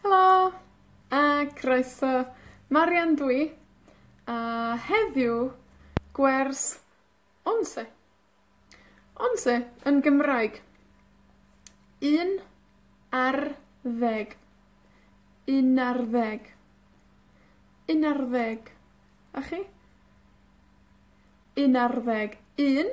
Helo, a croeso. Marian dw i, a heddiw, gwers Onse. Onse yn Gymraeg. Un ar ddeg. Un ar ddeg. Un ar ddeg. A chi? Un ar ddeg. Un.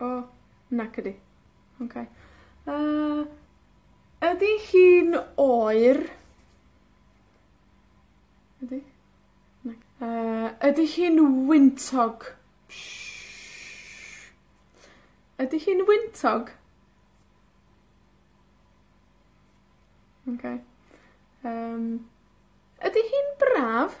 O, nac ydi. Oce. Yy, ydi hi'n oer? Ydi? Na. Yy, ydi hi'n wyntog? Siarp. Ydi hi'n wyntog? Oce. Yym, ydi hi'n braf?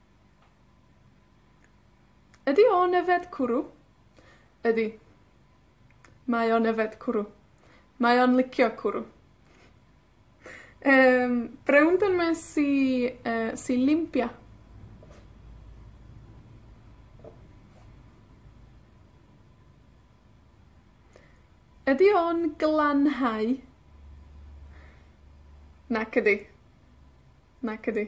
Ydi o'n yfed cwrw? Ydi. Mae o'n yfed cwrw. Mae o'n licio cwrw. Yym, brown dan ma' si yy, si Limpia. Ydi o'n glanhau? Nac ydi. Nac ydi.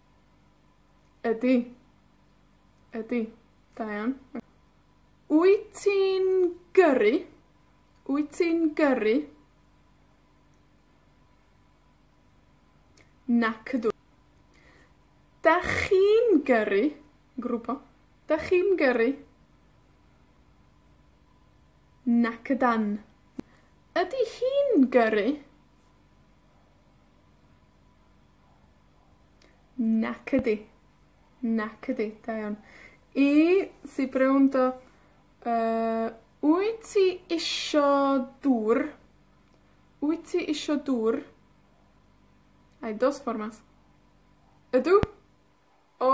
Ydi. Ydi. Da iawn. Wyt ti'n gyrru? Wyt ti'n gyrru? Nac ydw. 'Dach chi'n gyrru? Grŵp o. 'Dach chi'n gyrru? Nac ydan. Ydi hi'n gyrru? Nac ydi. Nac ydi. Da iawn. I sy i'n gwrando, yy, wyt ti isho dwr? Wyt ti isho dwr? I dos formas. Ydw. O!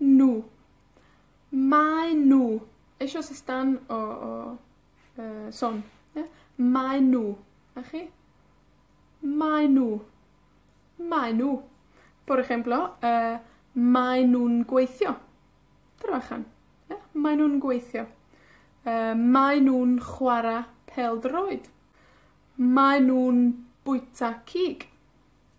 Nhw. Maen nhw. Eisoes y stan o o yy son. Ia? Maen nhw. 'Na chi. Maen nhw. Maen nhw. Por ejemplo yy maen nhw'n gweithio. Trabajan. Ia? Maen nhw'n gweithio. Yy maen nhw'n chwara pêl-droed. Maen nhw'n bwyta cig.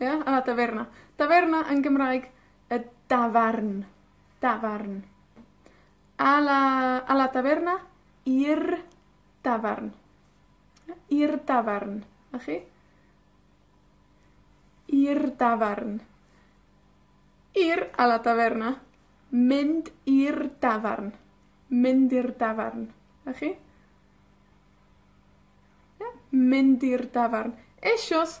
Ia? A, daferna. Daferna yn Gymraeg y dafarn, dafarn. A la, a la taverna, i'r dafarn. Ia? I'r dafarn. 'Na chi. I'r dafarn. Ir a la taverna, mynd i'r dafarn. Mynd i'r dafarn. 'Na chi. Ia? Mynd i'r dafarn. Eisoes,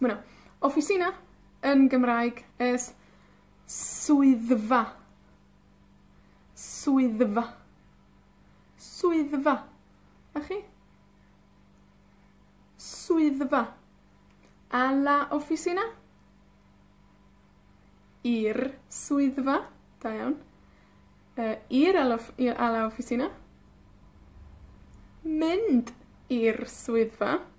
Ma' 'na officina yn Gymraeg es swyddfa. Swyddfa. Swyddfa. 'Na chi. Swyddfa. A la oficina? I'r swyddfa. Da iawn. Yy, ir a la off- ie a la oficina. Mynd i'r swyddfa.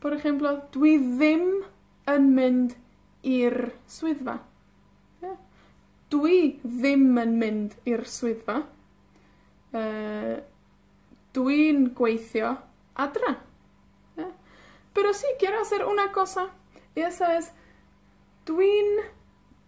Por ejemplo, dwi ddim yn mynd i'r swyddfa. Ie? Dwi ddim yn mynd i'r swyddfa. Yy, dwi'n gweithio adra. Ie? Pero si quiero hacer una cosa, esa es dwi'n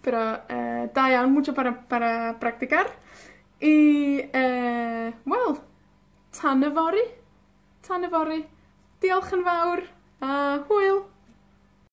Pero, yy, da iawn, mucho para para practicar. I, yy, wel, tan yfory, tan yfory, diolch yn fawr, a hwyl!